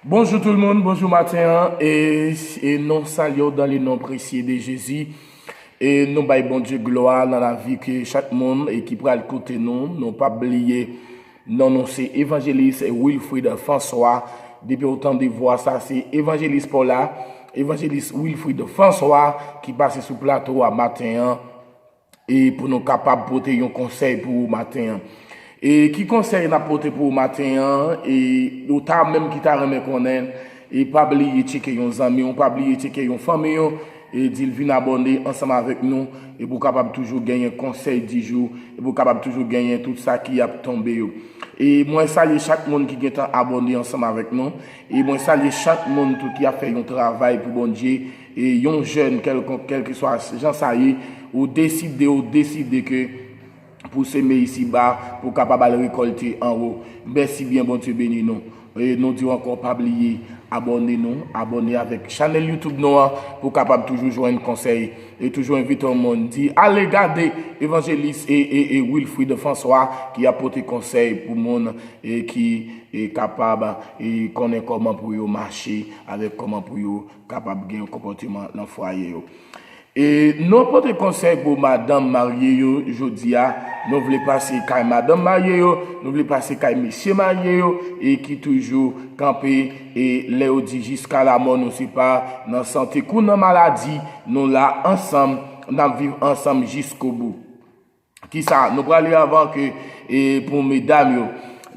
Bonjou tout moun, bonjou maten an e nou salyew dan le non presye de Jezi e nou bay Bondye glwa nan lavi ke chak moun e ki pral koute nou, nou pap bliye non nou se Evanjelis Wilfrid François depi ou tande vwa sa se Evanjelis paw la Evanjelis Wilfrid François ki pase sou plato a maten an. E pou nou kapab pote yon konsèy pou ou maten an. E ki konsèy nap pote pou ou maten an, e ou ta menm ki ta renmen konnen, e pa bliye tcheke yon zanmi w, pa bliye tcheke yon fanmi w, e di l vin abòne ansanm avèk nou, e pou w kapab toujou genyen konsèy di jou, e pou w kapab toujou genyen tout sa ki ap tonbe yo. E mwen salye chak moun ki gentan abòne ansanm avèk nou, e mwen salye chak moun tou ki ap fè yon travay pou Bondye, yon jèn kèlkonk kèlkeswa jan sa ye ou deside ou deside ke pou seme isiba pou kapab al rekolte anwo mèsi byen Bondye beni nou e nou diw ankò pa bliye abòne nou abòne avèk chanèl YouTube nou an pou kapab toujou jwenn konsèy e toujou envite yon moun di ale gade evanjelis e Wilfrid François ki ap pote konsèy pou moun ki kapab konnen kòman pou yo mache avèk kòman pou yo kapab gen yon konpòteman nan fwaye yo. E nou ap pote konsèy pou madanm marye yo jodi a, nou vle pase kay madanm marye yo, nou vle pase kay mesye marye yo e ki toujou kanpe e lè yo di jiska lamò nou se pa nan sante kou nan maladi nou la ansanm, n ap viv ansanm jiskobou. Kisa nou prale avan ke e pou medam yo.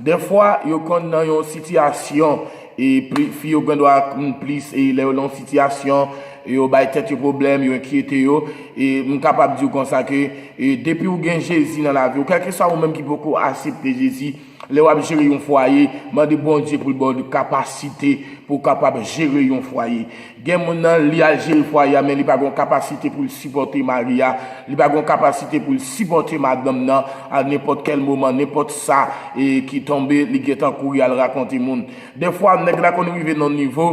Dèfwa yo konn nan yon sitiyasyon e pli fi yo gendwa konn plis e lè yo nan yon sitiyasyon yo bay tèt yo pwoblèm, yo enkyete yo e m kapab di w konsa ke e depi w gen Jezi nan lavi w, kèlkeswa ou menm ki poko asepte Jezi, Lè wap jere yon fwaye, mande Bondye pou l ba w kapasite pou w kapab jere yon fwaye. Gen moun nan, li al jere fwaye a men li pa gon kapasite pou l sipòte mari a, li pa gon kapasite pou l sipòte madanm nan, a nenpòt kèl moman, nenpòt sa ki tonbe li gentan kouri al rakonte moun. Dèfwa nèg la konn rive nan yon nivo,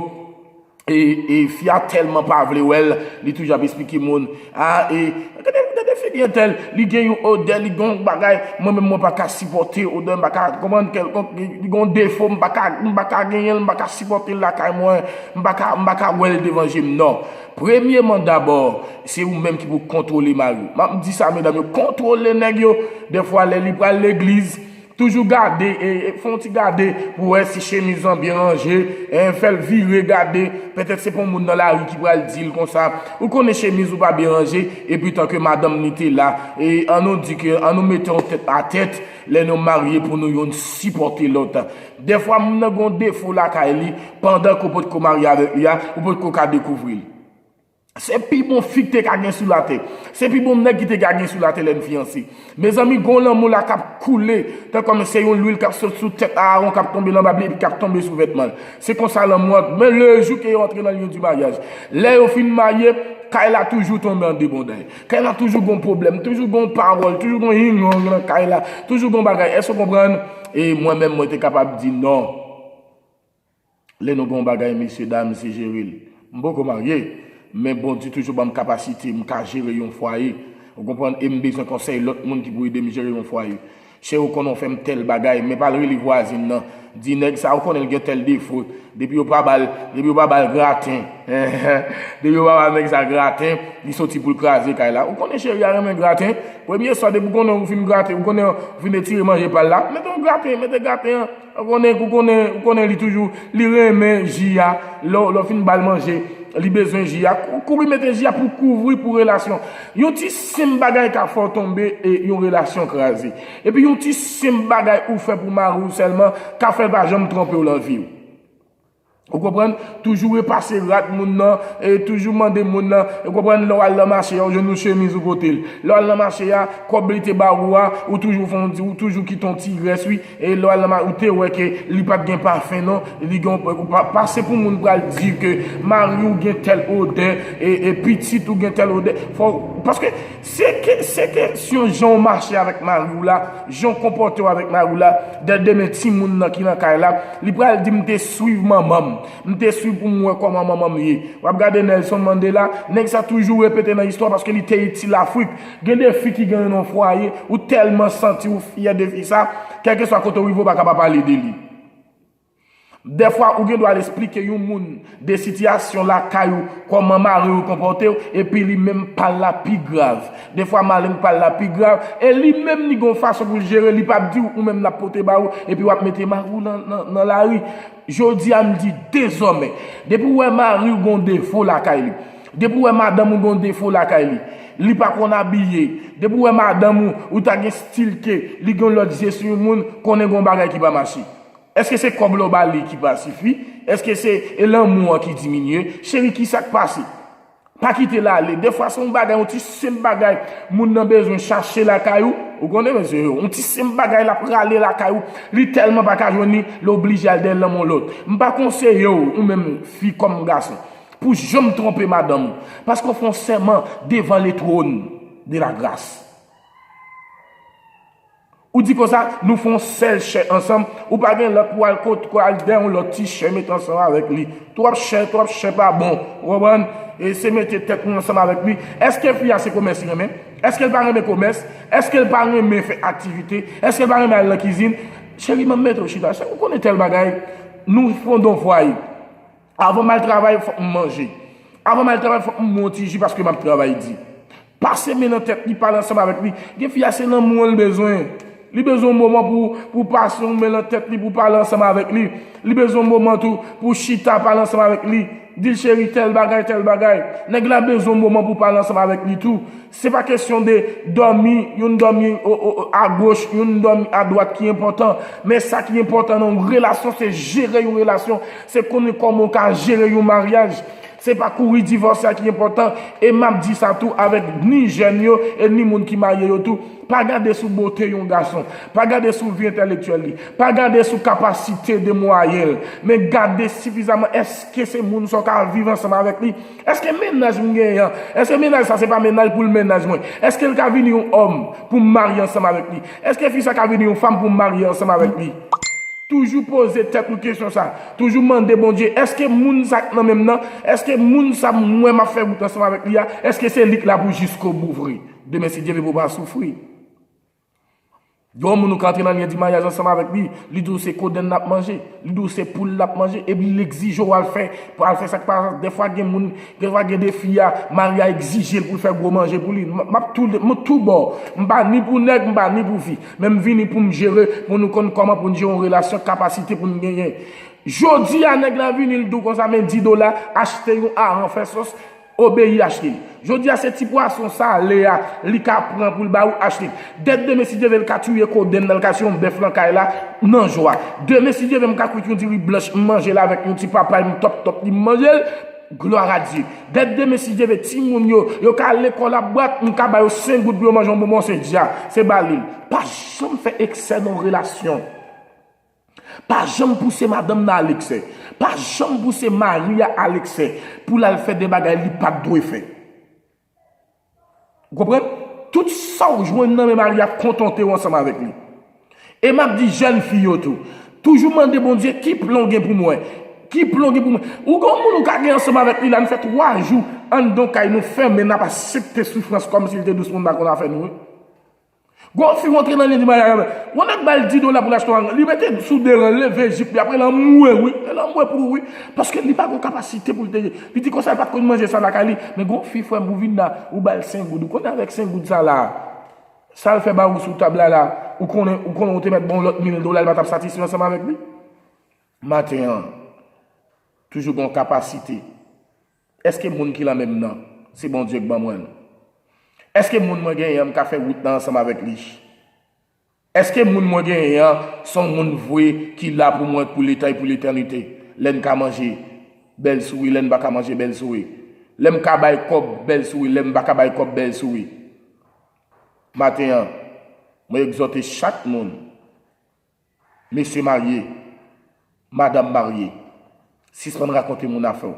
E fi a telman pa vle wèl li toujou ap esplike moun a e gade figi entèl li gen yon odè li gen yon bagay mwen menm mwen paka sipòte odè mwen paka konprann kèlkonk li gen yon defo mwen paka genyenl mwen paka sipòtel lakay mwen mwen paka wèl devan jem nan premyeman dabò se ou menm ki pou kontwole mariw map di sa medam yo kontwole nèg yo dèfwa lè li pral legliz Toujou gade, fè yon ti gade pou w wè si chemiz lan byen ranje, fè l vire gade, pètèt se pa yon moun nan lari ki pral di l konsa, ou konnen chemiz ou pa byen ranje, epi tan ke madanm ni te la, e an nou di ke, an nou mete yon tèt a tèt, lè nou marye pou nou youn sipòte lòt. Dèfwa moun nan gen yon defo lakay li, pandan ke w potko marye avèk li a, ou potko ka dekouvri l. Se pi bon fi k te ka gen sou latè. Se pi bon nèg ki te ka gen sou latè lè n fiyanse. Mezanmi, gon lanmou la k ap koule tankòm se yon lwil k ap sot sou tèt Aawon k ap tonbe lan bab li epi k ap tonbe sou vètman l. Se konsa lanmou an goumen le jou ke yo antre lan lyon di maryaj. Lè yo fin marye, kay la toujou tonbe an debonday. Kay la toujou gon pwoblèm, toujou gon pawòl, toujou gon yingong lan kay la, toujou gon bagay. Èske w konprann? E mwen menm mwen te kapab di non. Lè nou gen yon bagay mesye dam se jere l. M poko marye, men Bondye toujou ban m kapasite m ka jere yon fwaye, ou konprann, e m bezwen konsèy lòt moun ki pou ede m jere yon fwaye. Cheri ou konnen w fè m tèl bagay, men pa al rele vwazin nan, di nèg sa ou konnen l gen tèl defo, depi yo pa ba l, depi yo pa ba l graten, enhen, depi yo pa ba nèg sa graten, li soti pou l kraze kay la. Ou konnen cheri a renmen graten, premye swa depi w konnen ou fin grate, ou konnen ou fin etire manje pa l la, mete yon graten, mete graten an. Ou konnen ou konnen ou konnen li toujou li renmen ji a lè lè w fin ba l manje li bezwen ji a kouri mete ji a pou kouvri pou relasyon yon ti senp bagay ka fè w tonbe e yon relasyon kraze epi yon ti senp bagay ou fè pou mari w sèlman ka fè l pa janm twonpe w lan vi w. Ou konprann? Toujou repase rad moun nan, toujou mande moun nan, ou konprann, lè w al nan mache a, ou jwenn yon chemiz ou pote l. Lè w al nan mache a, kòb li te ba ou a, ou toujou fè yon ti, ou toujou kite yon ti rès wi. E lè w al nan mache, ou te wè ke li pa t gen pafen non, li gen yon, ou pa pase pou moun pral di ke mari w gen tèl odè, e pitit ou gen tèl odè. Fò, paske. Se kesyon jan w mache avèk mari w la, jan w konpòte w avèk mari w la, dè demen timoun nan ki nan kay la, li pral di m te swiv manman m, m te swiv pou m wè kòman manman m ye. W ap gade Nelson Mandela, nèg sa toujou repete nan istwa paske li te itil Afrik. Gen de fi ki gen yo nan fwaye, ou tèlman santi w fyè de fi sa, kèlkeswa kote w rive ou pa ka pa pale de li. Dèfwa ou gen dwa al esplike yon moun de sitiyasyon lakay ou kòman mari ou konpòte w epi li menm pa l la pi grav. Dèfwa mari n pa l la pi grav e li menm li gen yon fason pou l jere li pa p di w ou menm l ap pote ba ou epi w ap mete mari w nan lari. Jodi a m di dezòmè depi w wè mari w gen yon defo lakay li, depi w wè madanm ou gen yon defo lakay li, li pa konn abiye, depi w wè madanm ou ou ta gen stil ke li gen yon lòt je sou yon moun konnen gen yon bagay ki pa mache. Eske se kob la ou ba li ki pa sifi? Eske se e lanmou an ki diminye? Cheri kisak pase? Pa kite l ale. Defwa se yon bagay, yon ti senp bagay moun nan bezwen chache lakay ou. Ou konnen mesye yo. Yon ti senp bagay l ap rale lakay ou. Li tèlman pa ka jwenn li, l oblije al dèyè lanmou yon lòt. M pa konseye w, ou menm fi kòm gason, pou janm twonpe madanm ou. Paske w fè yon sèman devan letwon de lagras. Ou di konsa, nou fè yon sèl chè ansanm, ou pa gen lòt pou al kot, pou al dèy yon lòt ti chè met ansanm avèk li. Twòp chè, twòp chè pa bon. Ou konprann? E se mete tèt nou ansanm avèk li. Èske fi a se komès li renmen? Èske l pa renmen komès? Èske l pa renmen fè aktivite? Èske l pa renmen al nan kizin? Cheri, m ap mete w chita. Ou konnen tèl bagay. Nou fondonvway. Avan m al travay, fòk m manje. Avan m al travay, fòk m bwè yon ti ji paske m ap travay di. Pase men nan tèt li, pale ansanm avèk li. Gen fi a, se lanmou an li bezwen. Li bezwen yon moman pou w pase yon men nan tèt li, pou w pale ansanm avèk li. Li bezwen yon moman tou pou w chita, pale ansanm avèk li. Di l cheri tèl bagay, tèl bagay. Nèg la bezwen yon moman pou w pale ansanm avèk li tou. Se pa kesyon de dòmi, youn dòmi a goch, youn dòmi a dwat ki enpòtan. Men sa ki enpòtan nan yon relasyon, se jere yon relasyon. Se konnen kòman ou ka jere yon maryaj. Se pa kouri divòse a ki enpòtan. E m ap di sa tou avèk ni jèn yo, e ni moun ki marye yo tou. Pa gade sou bote yon gason. Pa gade sou vi entèlektyèl li. Pa gade sou kapasite de mwayen l. Men gade sifizaman èske se moun sa w ka viv ansanm avèk li. Èske mennaj m genyen an, èske mennaj sa se pa mennaj pou l mennaj mwen? Èske l ka vini yon òm pou m marye ansanm avèk li? Èske fi sa ka vini yon fanm pou m marye ansanm avèk li? Toujou poze tèt nou kesyon sa. Toujou mande Bondye, èske moun sa k nan men m nan, èske moun sa m wè m ap fè wout ansanm avèk li a, èske se li k la pou jiskobou vre? Demen si Dye vle pou w pa soufri. Yon moun ou ka antre nan lyen di maryaj ansanm avèk li, li di w se kodenn l ap manje, li di w se poul l ap manje, epi l egzije w al fè, pou al fè sa ki pa sa, dèfwa gen moun, dèfwa gen de fi a, mari a egzije l pou l fè gwo manje pou li, m ap tou, m tou bò, m pa ni pou nèg, m pa ni pou fi, men m vini pou m jere, pou nou konn kòman pou n jere yon relasyon, kapasite pou n genyen. Jodi a nèg la vini l di w konsa men di dola, achte yon aran fè sòs, Obeyi Ashley. Jodi a se ti pwason sale a li ka pran pou l ba ou Ashley. Dèt demen si Dye ve l ka touye kodenn nan l ka siyon bèf lan kay la nan jwa. Demen si Dye ve m ka kwit yon diri blanch m manje l avèk yon ti papay m tòp tòp li m manje l. Glwaradye. Dèt demen si Dye ve timoun yo yo ka al lekòl ap bwat m ka ba yo sen goud pou yo manje yon bonbon se dja. Se ba li l. Pa janm fè eksè nan yon relasyon. Pa janm pouse madanm nan al eksè. Pa janm pouse mari a al eksè pou l al fè de bagay li pa t dwe fè. Ou konprann? Tout sa w jwenn nan men mari a, kontante w ansanm avèk li. E m ap di jèn fi yo tou, toujou mande Bondye ki plan w gen pou mwen? Ki plan w gen pou mwen? Ou gen yon moun ou ka gen ansanm avèk li la, nou fè twa jou anndan yon kay, nou fèmen, n ap asepte soufrans kòmsi l te dous moun pa konn afè nou. Gon fi rantre nan Lundi Maya Gabler. Yon nèg bal 10 dola pou l achte yon ranga. Li mete l sou 2 ran, leve jip li apre l anmwe wi. L anmwe pou ou wi. Paske li pa gon kapasite pou l te. Li di konsa l pa t konn manje sa lakay li. Men gon fi frè m ou vin la, ou ba l 5 goud. Ou konnen avèk 5 goud sa la a, sa l fè ba ou sou tab la la, ou konnen ou konnen ou te mèt ba w lòt mil dola li pa t ap satisfè ansanm avèk li. Maten an, toujou gen yon kapasite. Èske moun ki lanmè m nan se Bondye k ban mwen l? Èske moun mwen genyen an m ka fè wout nan ansanm avèk li? Èske moun mwen genyen an s on moun vre ki la pou mwen pou leta e pou letènite? Lè n ka manje, bèl souri, lè n pa ka manje, bèl souri. Lè m ka bay kòb, bèl souri, lè m pa ka bay kòb, bèl souri. Maten an, mwen egzòte chak moun. Mesye marye, madam marye, sispann rakonte moun afè w.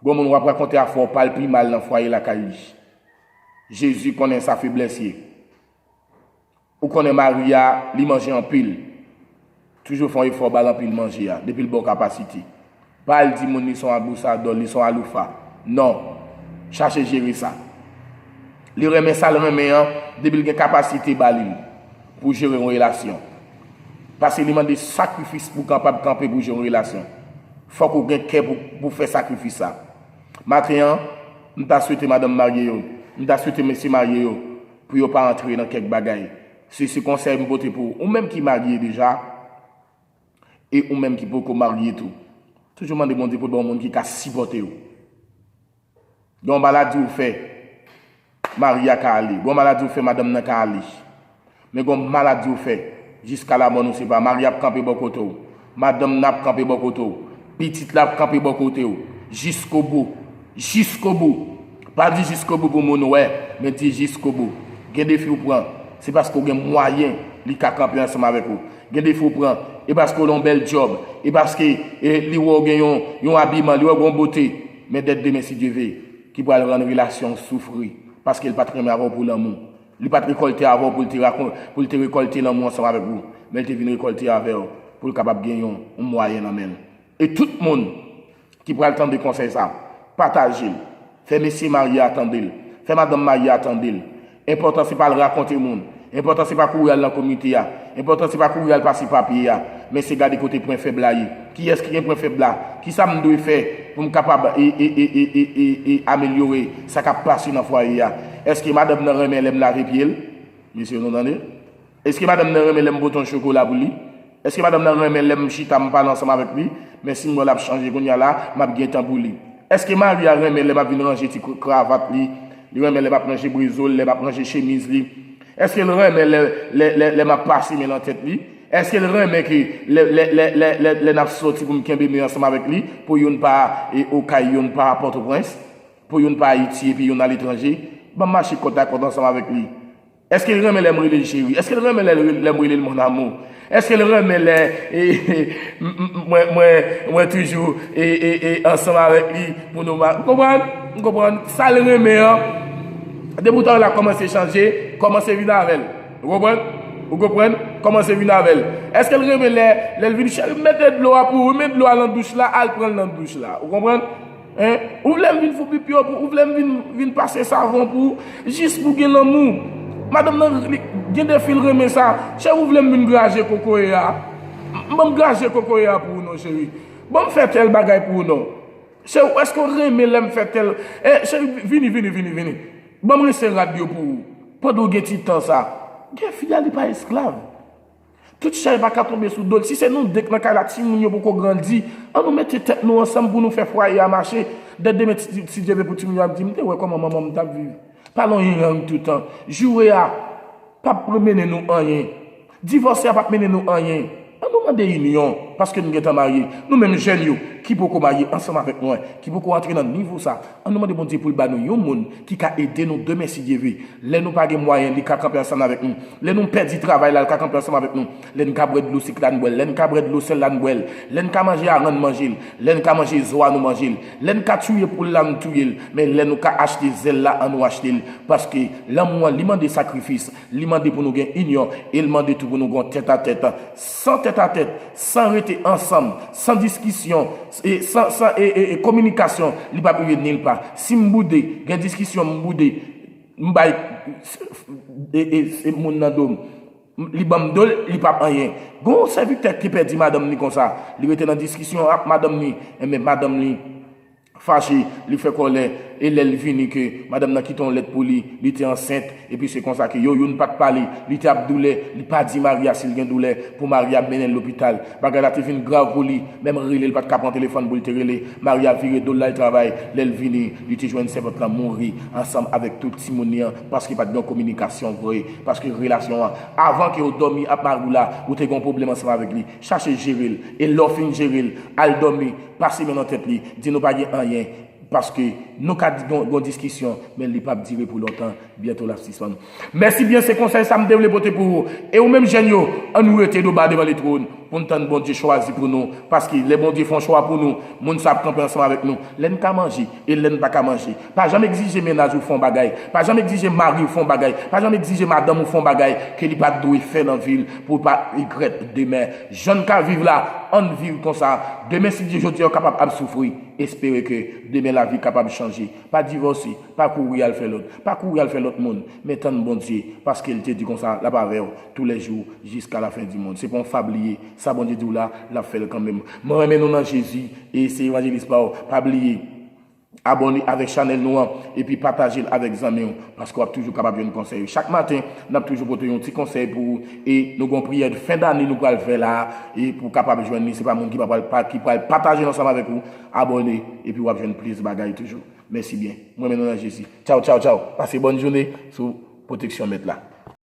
Gon moun w ap rakonte afè w pa l pi mal nan fwaye lakay li. Jezi konnen sa feblès ye. Ou konnen mari a, li manje anpil. Toujou fè yon efò ba l anpil manje a, depi l ba w kapasite. Pa al di moun li son abusador, li son aloufa. Non. Chache jere sa. Li renmen sal renmen an depi li gen kapasite ba li l pou jere yon relasyon. Pase li mande sakrifis pou kapab kanpe pou jere yon relasyon. Fok ou gen kè pou fè sakrifis sa. Maten an, m ta swete madanm marye yo, m ta swete mesye marye yo pou yo pa antre nan kèk bagay. Se se konsèy m pote pou ou menm ki marye deja. E ou menm ki poko marye tou, toujou mande Bondye pou l ba w moun ki ka sipòte w. Gen yon maladi ou fè, mari a ka ale. Gen yon maladi ou fè, madanm nan ka ale. Men gen yon maladi ou fè, jiska lamò nou separe. Mari a ap kanpe bò kote w. Madanm nan ap kanpe bò kote w. Pitit la ap kanpe bò kote w jiskobou. Jiskobou! Pa di jiskobou pou moun wè, men di jiskobou. Gen defi w pran, se paske w gen mwayen li ka kanpe ansanm avèk ou. Gen defi w pran, e paske w nan yon bèl djòb, e paske li wè w gen yon abiman, li wè w gen yon bote. Men dèt demen si Dye ve, ki pral rann relasyon w soufri, paske l pa t renmen avè w pou lanmou. Li pa t rekòlte avè w pou l te rakon, pou l te rekòlte lanmou ansanm avèk ou, men l te vin rekòlte avè w pou l kapab gen yon mwayen nan men l. E tout moun ki pral tande konsèy sa, pataje l. Fè mesye marye a tande l. Fè madanm marye a tande l. Enpòtan se pa al rakonte moun. Enpòtan se pa kouri al nan komite a. Enpòtan se pa kouri al pase papye a. Men se gade kote pwen fèb la ye. Kiyès ki gen pwen fèb la? Kisa m dwe fè pou m kapab amelyore sa k ap pase nan fwaye a? Èske madanm nan renmen lè m lave pye l? Mesye nou tande! Èske madanm nan renmen lè m pote yon chokola pou li? Èske madanm nan renmen lè m chita m pale ansanm avèk li? Men si m wè l ap chanje kounye a la, m ap gen tan pou li. Èske mari a renmen lè m ap vin ranje ti kravat li? Li renmen lè m ap ranje brezo l, lè m ap ranje chemiz li? Èske l renmen lè m ap pase men nan tèt li? Eske l renmen ke lè n ap sòti pou m kenbe men ansanm avèk li, pou youn pa Okay youn pa Pòtoprens, pou youn pa Ayiti epi youn aletranje, ban m mache kòtakòt ansanm avèk li? Eske l renmen lè m rele l cheri? Eske l renmen lè m rele l mon amour? Eske l renmen lè mwen toujou ansanm avèk li pou nou ma. Ou konprann? Ou konprann? Sa l renmen an, depi w ta wè l ap kòmanse chanje, kòmanse vin avè l. Ou konprann? Ou konprann? Kòmanse vin avè l. Èske l renmen lè lè l vin cheri m mete dlo a pou ou, men dlo a nan douch la, al pran l nan douch la. Ou konprann? Hein? Ou vle m vin fou pipi yo pou ou, ou vle m vin vin pase savon pou ou, jis pou gen lanmou. Madanm nan li gen de fi l renmen sa. Cheri ou vle m vin graje kokoye a? Ban m graje kokoye a pou ou non cheri. Ban m fè tèl bagay pou ou non. Cheri eske w renmen lèm fè tèl eh cheri vini vini vini vini banm rense rad yo pou ou pandan w gen ti tan sa gen fi a li pa esklav tout chay pa ka tonbe sou dol si se nou 2 k nan kay la timoun yo poko grandi an nou mete tèt nou ansanm pou nou fè fwaye a mache dè demen si Dye vle pou timoun yo ap di m te wè kòman manman m tap viv pa lonyen rang toutan joure a pap mennen nou anyen Divòse a pap mennen nou anyen. An nou mande inyon paske nou gentan marye. Nou menm jèn yo ki poko marye ansanm avèk mwen, ki poko antre nan nivo sa, an nou mande Bondye pou l ba nou yon moun ki ka ede nou demen si Dye ve. Lè nou pa gen mwayen li ka kanpe ansanm avèk nou. Lè nou pèdi travay la l ka kanpe ansanm avèk nou. Lè n ka bwè dlo sik la n bwè l, lè n ka bwè dlo sèl la n bwè l. Lè n ka manje aran n manje l, lè n ka manje zo a nou manje l. Lè n ka touye poul la n touye l, men lè nou ka achte zèl la an nou achte l. Paske lanmou an li mande sakrifis. Li mande pou nou gen inyon e l mande tou pou nou gen yon tètatèt. San tètatèt, san rete ansanm, san diskisyon, san kominikasyon, li pap rive nilpa. Si m boude, gen diskisyon m boude, m bay moun nan do m, li ban m do l, li pap anyen. Gen yon sèvitè ki te pèdi madanm li konsa. Li rete nan diskisyon ak madanm li, enben madanm li. fache, li fè kòlè, e lè l vini ke madanm nan kite yon lèt pou li, li te ansent, epi se konsa ke yo youn pa t pale, li te ap doulè, li pa di mari a si l gen doulè, pou mari a mennen l lopital. Bagay la te vin grav pou li, menm rele l pa t ka pran telefòn pou l te rele, mari a vire do l l al travay, lè l vini, li te jwenn sèvant lan mouri ansanm avèk tout timoun li an, paske pa t gen yon kominikasyon vre, paske relasyon an, avan ke w dòmi ak mari w la, ou te gen yon pwoblèm ansanm avèk li, chache jere l, e lè w fin jere l, al dòmi, pase men nan tèt li, di nou pa gen anyen, paske nou ka gon diskisyon, men li pap dire pou lontan, byento lap sispann. Mèsi byen se konsèy sa m te vle pote pou ou e ou menm jèn yo, an nou rete do ba devan letwòn pou n tann Bondye chwazi pou nou, paske lè Bondye fon chwa pou nou, moun sa ap kanpe ansanm avèk nou, lè n ka manje e lè n pa ka manje. Pa janm egzije mennaj ou fon bagay, pa janm egzije mari w fon bagay, pa janm egzije madanm ou fon bagay ke li pat dwe fè nan vi l pou w pa regrèt demen. Jann ka viv la ann viv konsa demen si Dye jodi an w kapab ap soufri espere ke demen lavi kapab chanje pa divòse pa kouri al fè lòt pa kouri al fè lòt moun men tann Bondye paske l te di konsa lap avè w tou lè jou jiska la fen di mond se pa yon fab li ye sa Bondye di w la lap fè l kanmenm mwen renmen nou nan Jezi e se evanjelis pa w pa bliye Abòne avèk chanèl nou an epi pataje l avèk zanmi w paske wap toujou kapab jwenn konsèy yo chak maten nap toujou pote yon ti konsèy pou ou e nou gen yon priyè de fen dane nou pral fè la e pou w kapab jwenn li se pa moun ki pa pral pa ki pral pataje l ansanm avèk ou abòne epi wap jwenn plis bagay toujou mèsi byen m renmen nou nan Jezi tchaw tchaw tchaw pase bòn joune sou pwoteksyon mèt la.